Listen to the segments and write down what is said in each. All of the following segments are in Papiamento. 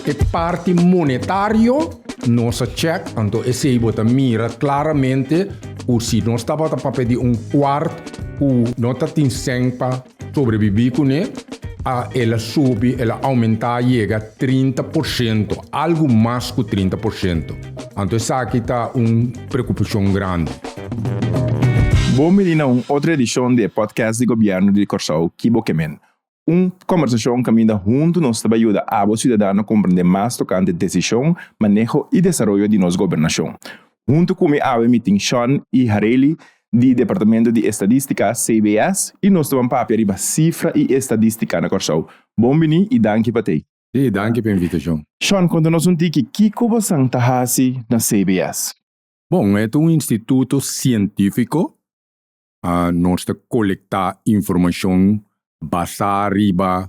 E parti monetario nos a check, anto esey bo ta mira claramente cu si nos tabata pa pedi un cuart cu no ta tin cen pa sobrevivi cune, a el a subi, el a aumenta a yega trinta por ciento, algo mas cu trinta por ciento. Anto esaki ta un preocupacion grandi. Bo miri na un otro edicion di e podcast di Gobierno di Corsow Kibo Kemen. Un kombersashon kaminda huntu nos ta bai yuda abo siudadano komprendé mas tokante desishon, maneho i desaroyo di nos gobernashon. Huntu ku mi awe mi tin Sean i Hareli di Departamento di Estadístika, CBS, i nos ta ban papia riba sifra i estadístika na Kòrsou. Bon bini i danki pa t'ei. Ei, danki pa e invitashon. Sean, konta nos un tiki kiko bosan ta hasi na CBS. Bon, e ta un instituto sientífiko Nos ta kolektá informashon basá riba,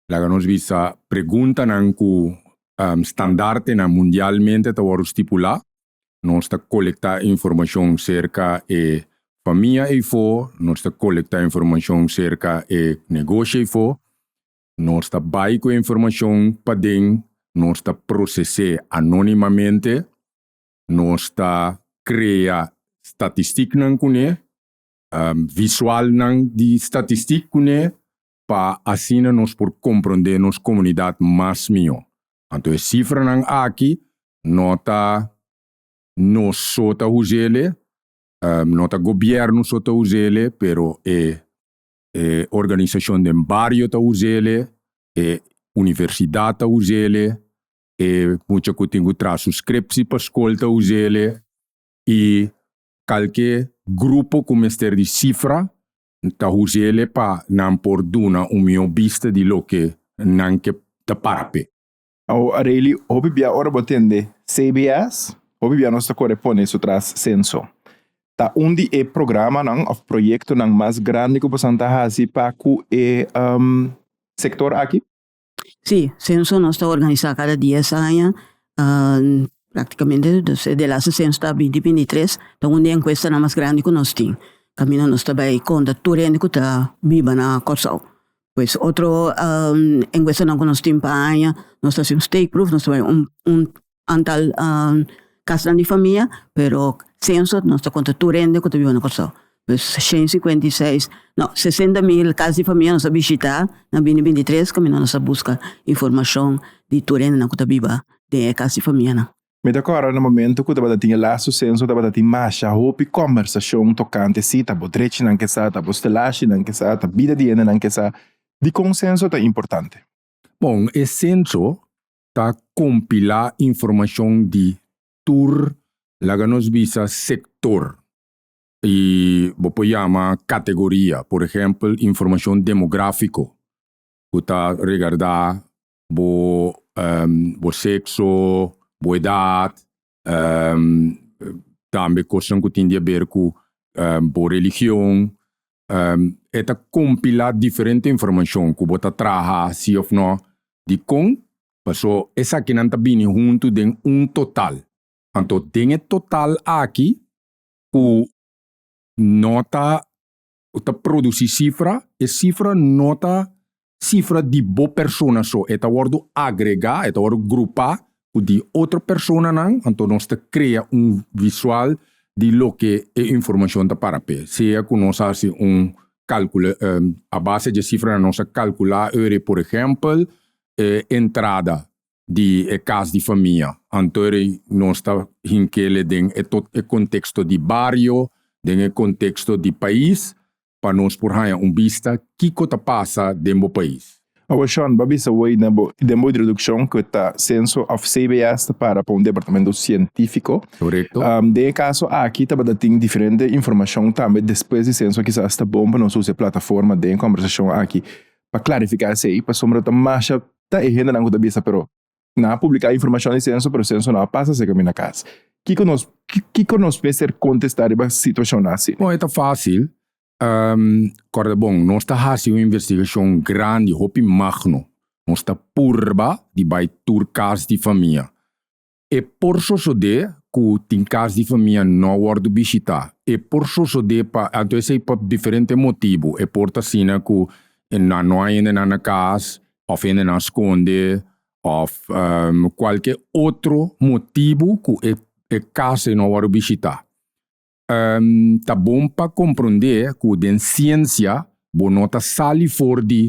laga nos bisa, preguntanan ku standartenan mundialmente ta wòrdu stipulá. Nos ta kolektá informashon serka e famia eifo, nos ta kolektá informashon serka e negoshi eifo, nos ta bai ku e informashon paden, nos ta proses'é anónimamente. Nos ta krea statistiknan kuné, visualnan di statistik kuné pa asina nos por komprondé nos komunidat mas mihó. Anto e sifranan aki no ta nos so ta us'el'e, no ta gobièrnu so ta us'el'e, pero e e organisashon den bario ta us'el'e, e universidat ta us'el'e, E mucha ku tin ku traha su skripsi pa skol ta usa el e i kalke grupo ku mester di sifra ta usa el e pa nan por duna un mihó bista di loke nan ke ta para p'e. Awo Arely, hopi bia ora bo tende CBS, hopi bia nos ta kore pone su tras Censo. Ta un di e programanan òf proyektonan mas grandi ku bosan ta hasi pa ku e sector aki? Sí, senso nos ta organisá kada dies aña. Práktikamente despues di e lasa senso ta binti bintitres, ta un di e enkuestanan mas grandi ku nos tin. Kaminda nos ta bai konta tur hende ku ta biba na Kòrsou. Pues otro enkuestanan ku nos tin pa aña, nos ta hasi un steekproef, nos ta bai un, un antal kasnan di famia, pero senso nos ta konta tur hende ku ta biba na Kòrsou. Pues shen i sikuenta i seis, no, sesenta mil kas di famia nos a bishitá, nan bini bintitres kaminda nos a buska informashon di tur hendenan ku ta biba den e kas di famianan. Mi ta kòrda na momentu ku tabata tin e lastu senso tabata tin masha hopi kòmbersashon tokante si ta bo drechinan ke sa, ta bo stelashinan ke sa, ta bida di hendenan ke sa, dikon senso ta importante. Bon, e senso ta kompilá informashon di tur, laga nos bisa sektor, i bo por yama kategoria, por ehèmpel informashon demográfiko ku ta regardá bo bo sekso, bo edat, tambe kosnan ku tin di aber ku bo religion, e ta kompilá diferente informashon ku bo ta traha si òf nò, dikon? Pasó esakinan ta bini huntu den un total. Anto den e total aki ku no ta ta produci cifra, e cifra no ta cifra di bo persona so, e ta wordo agrega, e ta wordo grupa cu di otro personanan, anto nos ta crea un visual di loke e informacion ta para p'e. Sea cu nos haci un calcula a base di e cifranan nos a calcula ora por ehempel e entrada di e cas di famia. Antori nos ta hinkele den e tot e contexto di bario, den e contexto di pais pa nos por haña un bista kico ta pasa den bo pais. Awa Sean, bo a bisa hoy na bo, den bo introduccion, cu ta censo of CBS ta para pa un departamento cientifico. Corecto. Den e caso aki tabata tin diferente informacion tambe despues di censo kisas ta bon pa nos usa e plataforma den e conversacion aki pa clarifica esey pasobra ta masha ta e hendenan ku ta bisa, pero nan a publiká informashon di senso, pero senso no a pasa se kaminda kas. Kiko nos kiko nos mester kontestá riba situashonnan así? Bon, e ta fásil. Kòrda bon, nos ta hasi un investigashon grandi, hopi magno. Nos ta purba di bai tur kas di famia. E por sosodé ku tin kas di famia no a wòrdu bishitá. E por sosodé pa anto esei pa diferente motibu. E por ta asina ku nan no a hendenan na kas òf hendenan skonde òf kualke otro motibu ku e e kas ei no a wòrdu bishitá. Ta bon pa komprondé ku den siensia bo no ta sali for di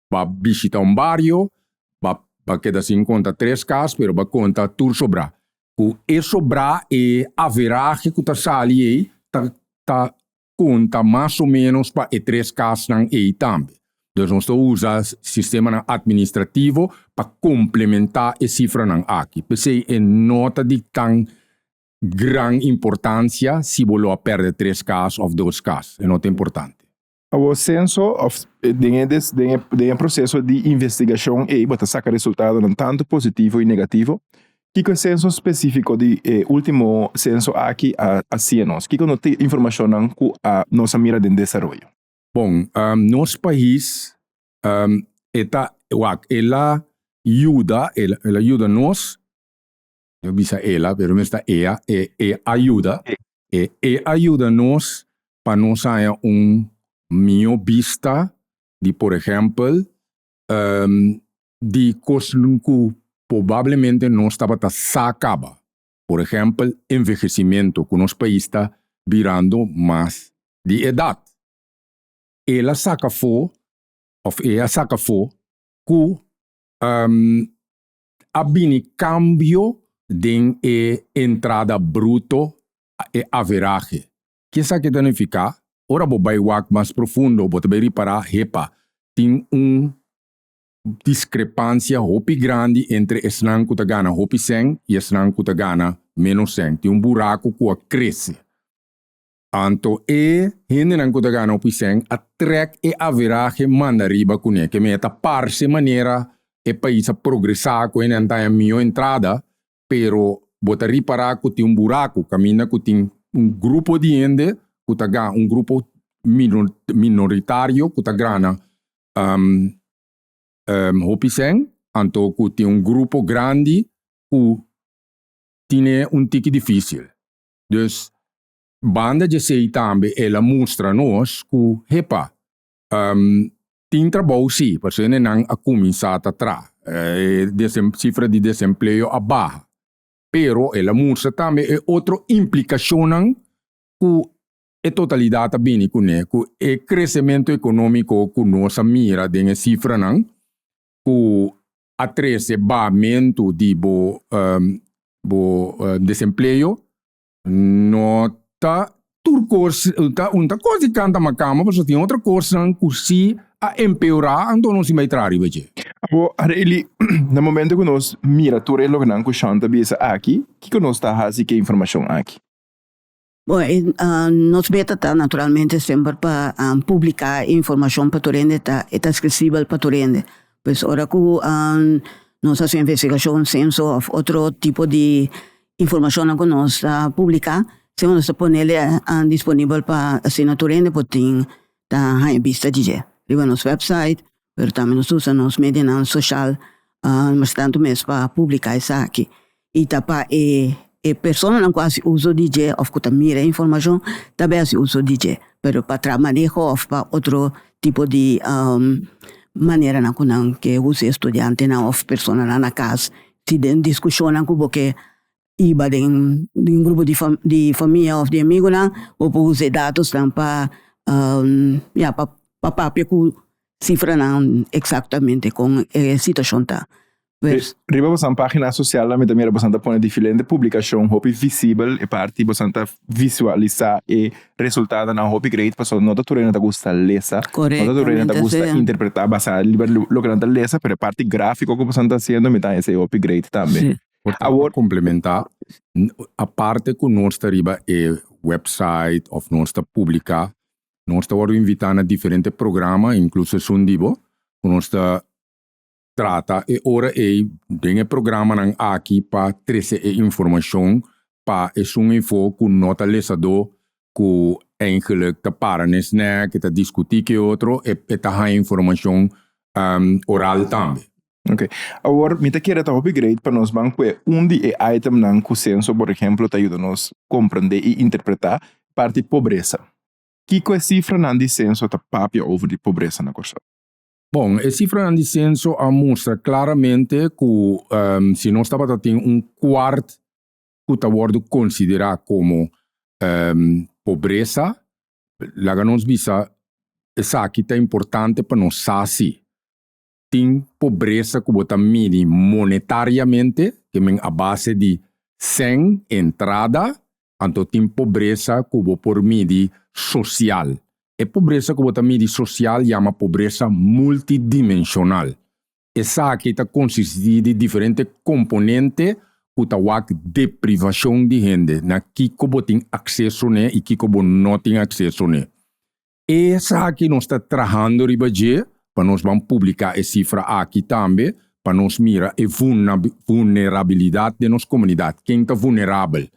ba bishita un bario, ba ba keda sin konta tres kas, pero ba konta tur sobrá. Ku e sobrá, e averahe ku ta sali ei ta ta konta mas o ménos pa e tres kasnan ei tambe. Entonces nos ta usa sistemanan atministrativo pa komplementá e sifranan aki. P'esei e no ta di tan gran importansia si bo lo a pèrdè tres kas òf dos kas. E no ta importante. Awor senso of den e des den e den e proceso di investigashon ei bo ta saka resultadonan tantu positivo i negativo. Kiko e senso spesifiko di e ultimo senso aki a a hasié nos? Kiko no ta e informashonnan ku a nos a mira den desaroyo? Bon, nos pais e ta wak el a yuda el a yuda nos no bisa ela, pero mes ta ea, e, e ayuda, e, e ayuda nos pa nos haña un mihó bista di, por ehèmpel, ehm, di cosnan cu pobablemente nos tabata sa caba, por ehèmpel, envehecimento, cu nos pais ta birando mas di edad. El a saca fo, of e a saca fo, cu, ehm, a bini kambio den e entrada bruto, e averahe. Ke sa ke ta nifiká? Ora bo bai wak mas profundo bo ta bai ripará, hepa, tin un diskrepansia hopi grandi entre esnan ku ta gana hopi sèn i esnan ku ta gana ménos sèn. Tin un buraku ku a krese. Anto e hendenan ku ta gana opisèn a trèk e averahe manda riba kuné. Ke mei a ta parse manera e pais a progresá ku hende a antaña mihó entrada, pero bo ta ripará ku tin un buraku kaminda ku tin un grupo di hende ku ta gana, un grupo minoritario ku ta grana hopisèn, anto ku tin un grupo grandi ku tine un tiki difísil. Dus Banda djesei tambe el a mustra nos ku hepa, tin trabou si, pasobra nan a kuminsá ta traha. E sifra di desempleo a baha. Pero el a mustra tambe e otro implikashonnan ku e totalidat a bini kuné, ku e kresementu ekonómiko ku nos a mira den e sifranan ku a trese bahamentu di bo bo desempleo No ta tur kos ta un ta kos di kanta makamba pasobra tin otro kosnan ku si a empeora anto nos tin bai traha riba dje. Abo Arely na momento ku nos mira tur e lokenan ku Shawn ta bisa aki kiko nos ta hasi ku e informashon aki? Bo nos meta ta naturalmente semper pa publiká e informashon pa tur hende ta e ta aksesibel pa tur hende pues ora ku nos hasi un investigashon senso òf otro tipo di Informashonnan ku nos a publiká, semana nos ta pone el disponibel pa asina tur hende por tin ta haña bista di dje riba nos wèpsait, pero tambe nos ta usa nos medianan soshal mastertantu mes pa publiká esaki. I ta pa e e personanan ku a hasi uso di dje òf ku ta mira e informashon tambe a hasi uso di dje, pero pa traha maneho òf pa otro tipo di maneranan ku nan ke usa e studiantenan òf personanan na kas Si den diskushonnan ku bo ke hiba den un grupo di fam di famia òf di amigunan, bo por usa e datosnan pa, ya, pa papia ku sifranan eksaktamente kon e situashon ta. Riba bosan página sosial mi ta mira bosan ta pone diferente publikashon hopi visibel, e parti bosan ta visualisá e resultadonan hopi great pasobra no ta tur hende ta gusta lesa, no ta tur hende ta gusta interpretá basá riba loke nan ta lesa pero e parti gráfiko ku boso nan ta hasiendo mi ta hesa e hopi great tambe. Awor. Komplementá aparte ku nos ta riba e wèpsait òf nos ta publiká nos ta wòrdu invitá na diferente programa inkluso esun di bo ku nos ta trata e ora ei den e programanan aki pa trese e informashon pa esun eifo ku no ta lesadó ku eingelijk ta para nes nèk e ta diskutí ku e otro e e ta haña informashon oral tambe. Oke. Awor mi ta kere ta hopi great pa nos ban kue un di e itemnan ku senso por ehemplo ta yuda nos komprendé i interpretá parti pobresa. Kiko e sifranan di senso ta papia over di pobresa na Kòrsou? Bon, e sifranan di senso a mustra klaramente ku um, si nos tabata tin un kwart ku ta wordu konsiderá komo um, pobresa, laga nos bisa esaki ta importante pa nos sa si tin pobresa ku bo ta midi monetariamente, ke men a base di 100 entrada, Anto tin pobresa ku bo por midi sosial. E pobresa ku bo ta midi sosial yama pobresa multidimensional. Esaki ta konsistí di diferente komponente ku ta wak deprivashon di hende na kiko bo tin akseso n'e i kiko bo no tin akseso n'e. Esaki nos ta trahando riba dje pa nos ban publiká e sifra aki tambe pa nos mira e vulnerabilidat den nos komunidat, ken ta vulnerabel,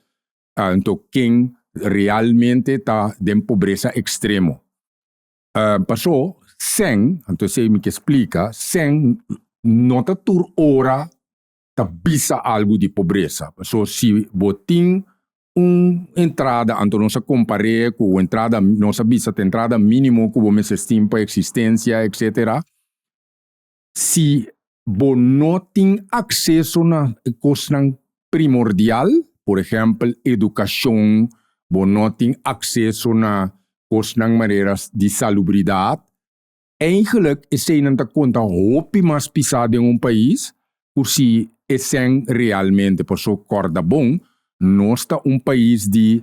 anto ken realmente ta den pobresa ekstremo. Pasó sèn, anto esei mi ke splika, sèn no ta tur ora ta bisa algu di pobresa. So si bo tin un entrada, anto nos a compar'é cu un entrada, nos a bisa ta entrada minimo cu bo mester tin pa existencia, etc. Si bo no tin acceso na e cosnan primordial, por ehempel educacion, bo no tin acceso na cosnan manera di salubridad, Eigenlijk eseinan ta konta hopi mas pisá den un pais ku si esèn realmente. P'esei kòrda bon, nos ta un pais di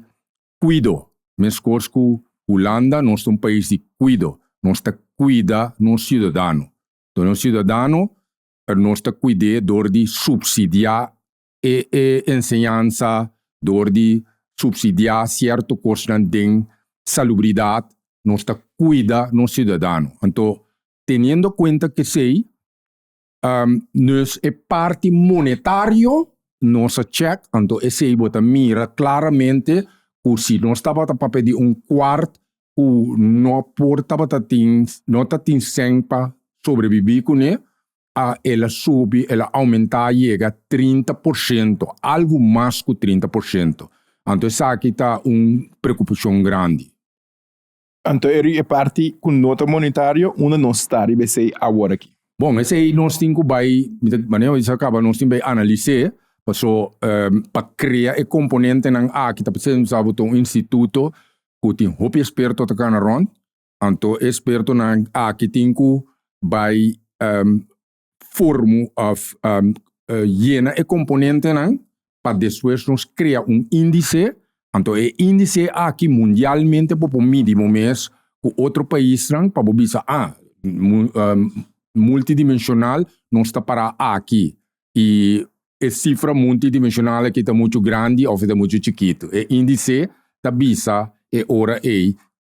kuido. Meskos ku Hulanda, nos ta un pais di kuido. Nos ta kuida nos siudadano. Nos siudadano nos ta kuid'é dor di supsidiá e e enseñansa dor di supsidiá sierto kosnan den salubridat, nos ta kuida nos siudadano. Anto, teniendo kuenta kesei, nos e parti monetario nos a chèk, anto esei bo ta mira klaramente ku si nos tabata papia di un kwart ku no por tabata tin no ta tin sèn pa sobrebibí kuné, a el a subi, el a oumentá a yega trinta por shento, algu mas ku trinta por shento. Anto esaki ta un preokupashon grandi. Anto e ri e parti ku no ta monitario unda nos ta riba esei aworakí. Bon, esei nos tin ku bai, mi ta manera ku Isa kaba, nos tin bai analis'é, paso pa krea e komponentenan aki ta presidentemente nos a botá un instituto ku tin hopi eksperto ta kana rònt, Anto e spertonan aki tin ku bai um, formu of um, uh, yena e komponentenan pa despues nos krea un índice. Anto e índice aki mundialmente bo por midi bo mes ku otro paisnan pa bo bisa, ah, um, multidimensional nos ta para aki i e sifra multidimensional aki ta muchu grandi òf ta muchu chikitu. E índice ta bisa e ora ei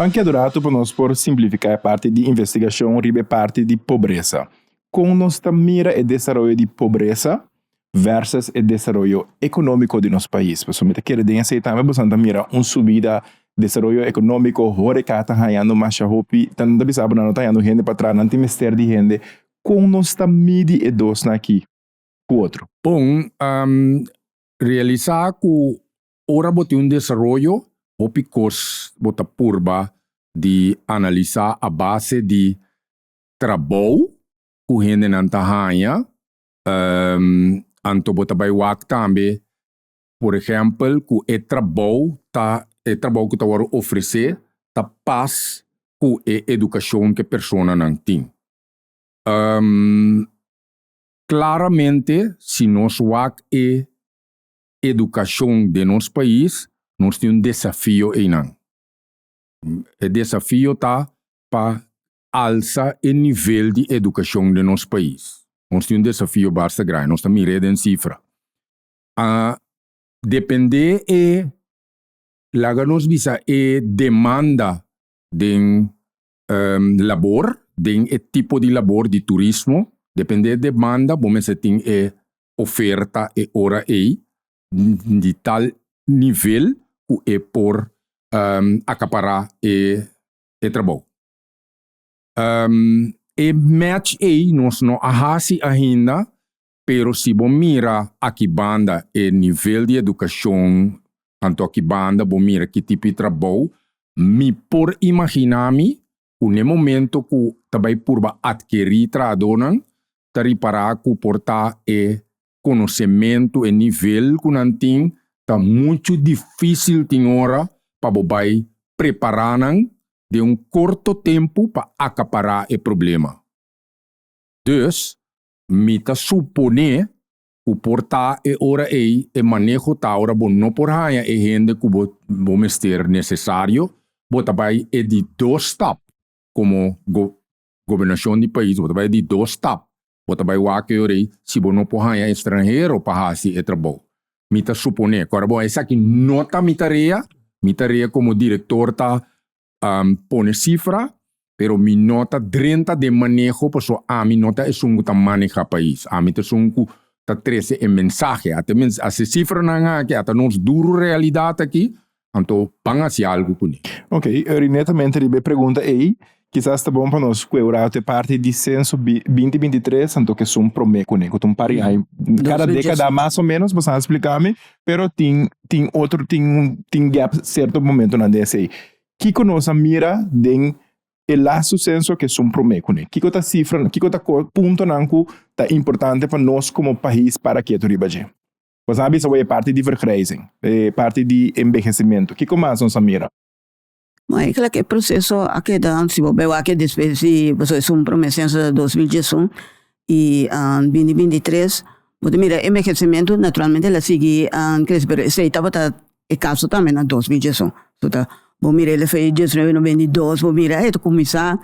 Ban keda un ratu pa nos por simplifiká e parti di investigashon riba e parti di pobresa. Kon nos ta mira e desaroyo di pobresa? versus e desaroyo economico di nos pais. Pasobra mi ta kere den esey tambe boso nan ta mira un subida desaroyo economico, horeca ta hañando masha hopi. Ta nan ta bisa bo nan no ta hañando hende pa traha, nan tin mester di hende. Con nos ta midi e dosnan aki cu otro? Bon, realisa cu ora bo tin un desaroyo hopi cos bo ta purba di analisa a base di trabou cu hendenan ta haña Um, anto bo ta bai wak tambe, por ehempel, ku e trabou ta, e trabou ku ta wòrdu ofresé ta pas ku e edukashon ku e personanan tin. Um, klaramente, si nos wak e edukashon den nos pais, nos tin un desafio einan. E desafio ta pa alsa e nivel di edukashon den nos pais. Nos tin un desafio basta grandi, nos ta mir'é den sifra. A dependé e, laga nos bisa e demanda den labor, den e tipo di labor di turismo, dependé e demanda bo mester tin e oferta e ora ei di tal nivel ku e por akapará e e trabou. E match ei nos no a hasi ainda, pero si bo mira aki banda e nivel di educacion anto aki banda bo mira ki tipo di trabou, mi por imagina mi cu n'e momento cu ta bay purba adkeri trahadornan ta ripara cu por ta e konosementu, e nivel ku nan tin, ta muchu difísil tin ora pa bo bai prepará nan den un korto tempu pa akapará e problema. Dus, mi ta suponé ku por ta e ora ei e maneho ta ora bo no por haña e hende ku bo bo mester nesesario, bo ta bai e di dos stap, komo go gobernashon di pais, bo ta bai e di dos stap, Bo ta bai wak yo rei si bo no por haña estranhero pa hasi e trabou. Mi ta suponé ku ora bo esaki no ta mi tarea, mi tarea komo direktor ta pone sifra, pero mi no ta drenta den maneho paso ami no ta esun ku ta maneha pais. Ami ta esun ku ta trese e mensahe. Ata e sifranan aki, ata nos duru realidat aki, Anto ban hasi algu kuné. Ok, rinetamente riba e pregunta ei, kisas ta bon pa nos ku e rato e parti di senso binti binti tres anto ke sun promé kuné, ku ta un par di aña. Kada dekada mas o menos, bo sa spliká mi, pero tin tin otro tin tin gèp serto momentunan den esei. Kiko nos a mira den e lastu senso ke sun promé kuné? Kiko ta sifra, kiko ta puntonan ku ta importante pa nos komo pais para ketu riba dje? Bo sa bisa awor e parti di vergrijzing, e parti di envejecimiento. Kico mas nos a mira? Bo a keda cu e proceso a keda, si bo bai wak despues di boso a esun prome censo ta dos mil diesun y bindi bintitres, bo ta mira e envejecimiento naturalmente el a sigui crece pero esey tabata E kaso tambe na dos mil diesuno. Su ta bo mira el efeto di diesnuebe no bini dos bo mira e ta kuminsá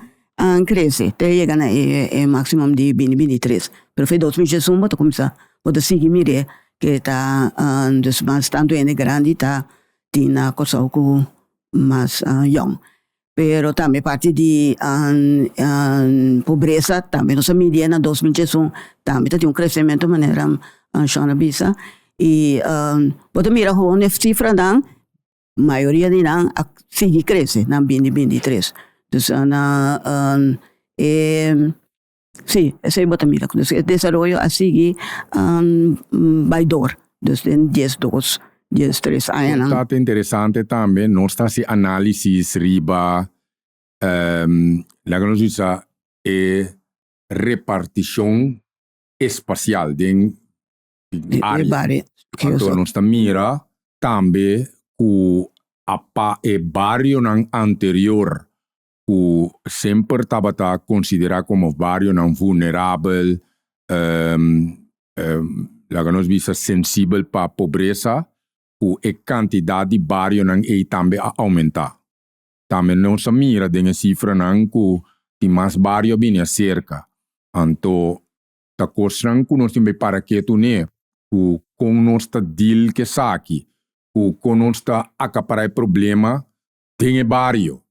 krese te yega na e e máksimum di bini bini tres pero fe dos mil diesuno bo ta kuminsá bo ta sigui mir'é ke ta dus mas tantu hende grandi ta tin na Kòrsou ku mas yòn. Pero tambe parti di pobresa tambe nos a midié na dos mil diesun, tambe ta tin un kresementu manera Sean a bisa. I bo ta mira houn e sifranan, mayoria di nan a sigui krese, nan bindi bindi tres. Dus na e Si, esei bo ta mira ku e desaroyo a sigui bai dor, dus den dies dos, dies tres añanan. Ku ta interesante tambe, nos ta hasi análisis riba, laga nos bisa e repartishon espasial den área. Anto nos ta mira tambe ku apa e barionan anterior ku semper tabata konsiderá komo barionan vulnerabel, laga nos bisa sensibel pa pobresa, ku e kantidat di barionan ei tambe a oumentá. Tambe nos a mira den e sifranan ku tin mas bario a bini aserka. Anto ta kosnan ku nos tin bay para ketu n'e, ku kon nos ta deal ku esaki, ku kon nos ta akapará e problema den e bario.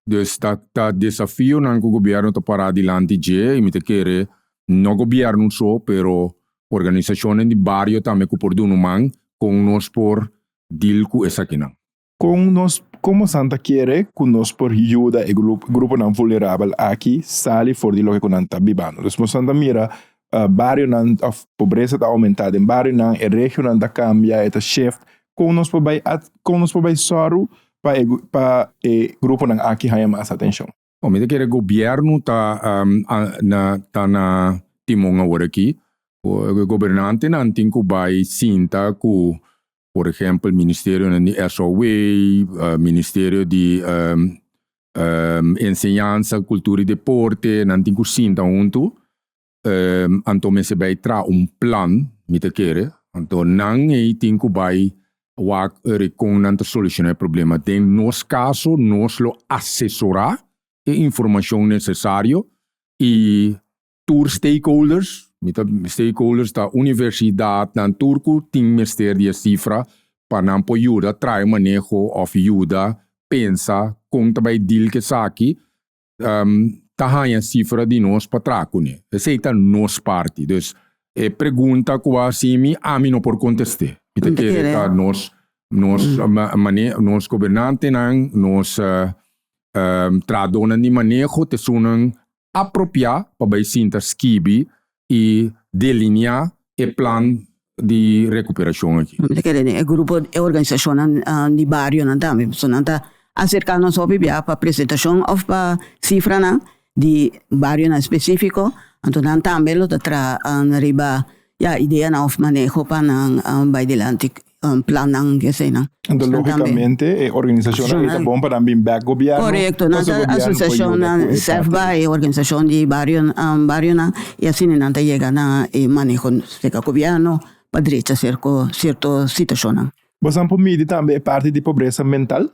Dus ta ta desafionan cu gobierno ta para dilanti dje y mi ta kere no gobierno so pero organisacionnan di bario tambe cu por dun'o man con nos por deal cu esakinan. Con nos como san ta kere cu nos por yuda e gruponan vulnerabel aki sali for di loke cu nan ta bibando. Dus mosan ta mira barionan of pobresa ta aumenta den barionan, e regionan ta cambia e ta shift kon nos por bai a, kon nos por bai sòru pa e, pa e gruponan aki haña mas atenshon. Bo mi ta kere gobierno ta na ta na timon aworakí e gobernantenan tin ku bai sinta ku por ehempel ministerionan di SOW ministerio di enseñansa kultura i deporte nan tin ku sinta huntu Anto mester bay tra un plan, mi ta kere. Anto nan ey tin cu bay wak eri con nan ta soluciona e problema. Den nos caso nos lo asesora e informacion necesario y tur stakeholders, mi ta stakeholders ta universidad nan tur cu tin mester di e cifra pa nan por yuda trae maneho of yuda pensa con ta bay deal cu esaki um, ta haña sifra di nos pa traha kuné. Esei ta nos parti. Dus, e pregunta ku a hasi mi, ami no por kontest'é. Mi ta kere ta nos nos mane nos gobernantenan, nos um trahadónan di maneho ta esunnan apropiá pa bai sinta skibi y delineá e plan di recuperacion aki. Lo kere den e grupo, e organisacionnan di barionan tambe, pasobra nan ta acercá nos hopi bia pa presentacion of pa cifranan di barionan específico, anto nan tambe lo ta traha riba ya ideanan of maneho pa nan bai dilanti plannan di eseinan. Anto logicamente e organisacionnan ei ta bon pa nan bin back gobierno. Correcto, nan ta asociacionnan SEFBA e organisacion di barionan y asina nan ta yega na e maneho cerca gobierno pa drecha cierto situacionnan. Bo sa por midi tambe e parti di pobresa mental?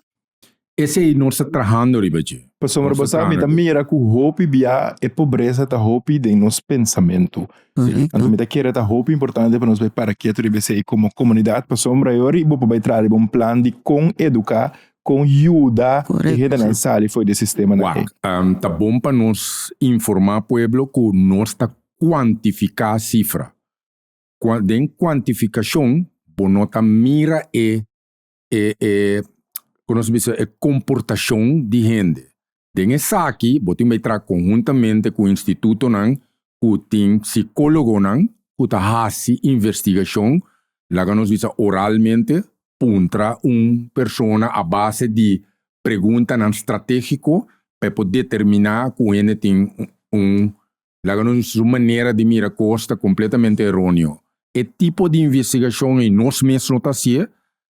Esei nos ta trahando riba dje. Pasobra bo sa, mi ta mira ku hopi bia e pobresa ta hopi den nos pensamentu. Anto mi ta kere ta hopi importante pa nos bai para ketu riba esei komo komunidat, pasobra e ora bo por bai traha riba un plan di kon eduká, kon yuda e hendenan sali for di e sistemanan ei. Wak, ta bon pa nos informá pueblo ku nos ta kuantifiká sifra. Den kuantifikashon bo no ta mira e e e ku nos bisa e komportashon di hende. Den esaki bo tin bay traha konhuntamente ku institutonan ku tin psikólogonan ku ta hasi investigashon, laga nos bisa oralmente, puntra un persona a base di preguntanan stratégiko pa e por determiná ku hende tin un Laga nos su manera di mira kos ta kompletamente eroneo. E tipo di investigashon ei nos mes no ta hasié,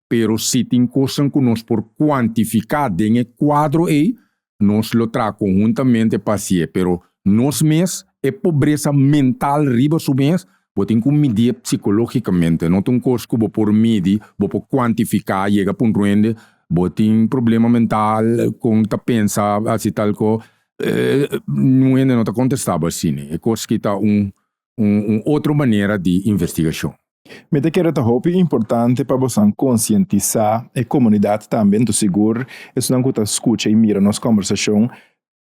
pero si tin kosnan ku nos por kuantifiká den e kuadro ei, nos lo traha konhuntamente pa hasié. Pero nos mes, e pobresa mental riba su mes, bo tin ku midié psikológikamente. No ta un kos ku bo por midi, bo por kuantifiká yega punto hende bo tin problema mental, kon ta pensa hasi tal kos. E un hende no ta contestaba así ne. E cos ki ta un, un, un otro manera di investigacion. Mi ta kere ta hopi importante pa bosan concientisá e comunidad tambe, anto sigur esnan cu ta scucha y mira nos conversacion,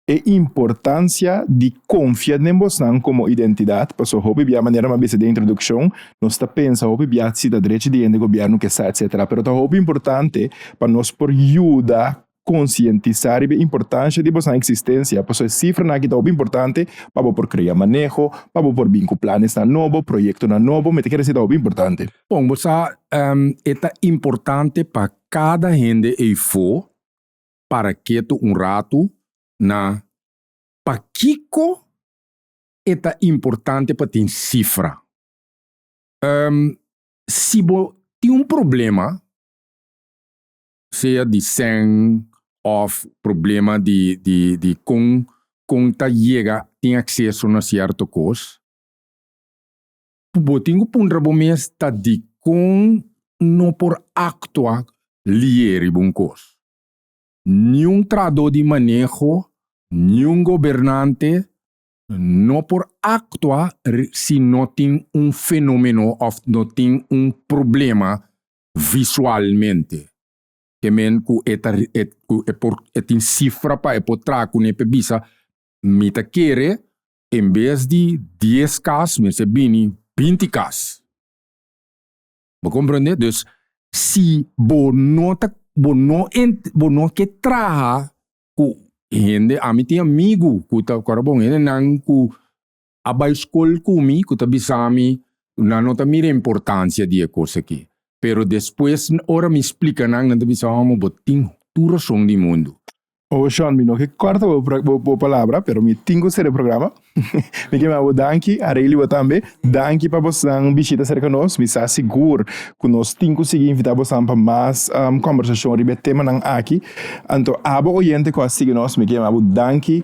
e importancia di confia den bosnan como identidad, paso hopi bia manera mi a bisa den introduccion, nos ta pensa hopi bia si ta drechi di hende gobierno, kesa, etcetera, pero ta hopi importante pa nos por yuda konsientisá riba e importansha di boso nan eksistensia. Pasobra e sifranan aki ta hopi importante pa bo por krea maneho, pa bo por bin ku planesnan nobo, proyektonan nobo. Mi ta kere si ta hopi importante. Bon, bo sa, e ta importante pa kada hende eifo para ketu un ratu na pakiko e ta importante pa tin sifra. Si bo tin un problema sea di sèn òf problema di di di kon kon ta yega tin akseso na sierto kos, bo tin ku puntra bo mes ta dikon no por aktua liye riba un kos. Niun trahadó di maneho, niun gobernante no por aktua si no tin un fenomenó òf no tin un problema visualmente ke men ku e ta e ku e por e tin sifra pa e por traha kuné p'e bisa mi ta kere en bes di dies kas mester bini binti kas, bo komprende? Dus si bo no ta bo no ent bo no ke traha ku hende, ami tin amigu ku ta ku ora bon hende nan ku a bai skol ku mi ku ta bisa mi ku nan no ta mira e importansia di e kos aki. Pero despues ora mi splika nan, nan ta bisa, Homo, bo tin tur rason di mundu. Oh, Sean, mi no ke kòrta bo bo bo palabra, pero mi tin ku ser e programa. Mi ke manda bo danki, a Reilly bo tambe. Danki pa bosnan bishita serka nos. Mi sa sigur ku nos tin ku sigui invitá bosnan pa mas kòmbersashon riba e temanan aki. Anto, abo oyente ku a sigui nos, mi ke manda bo danki.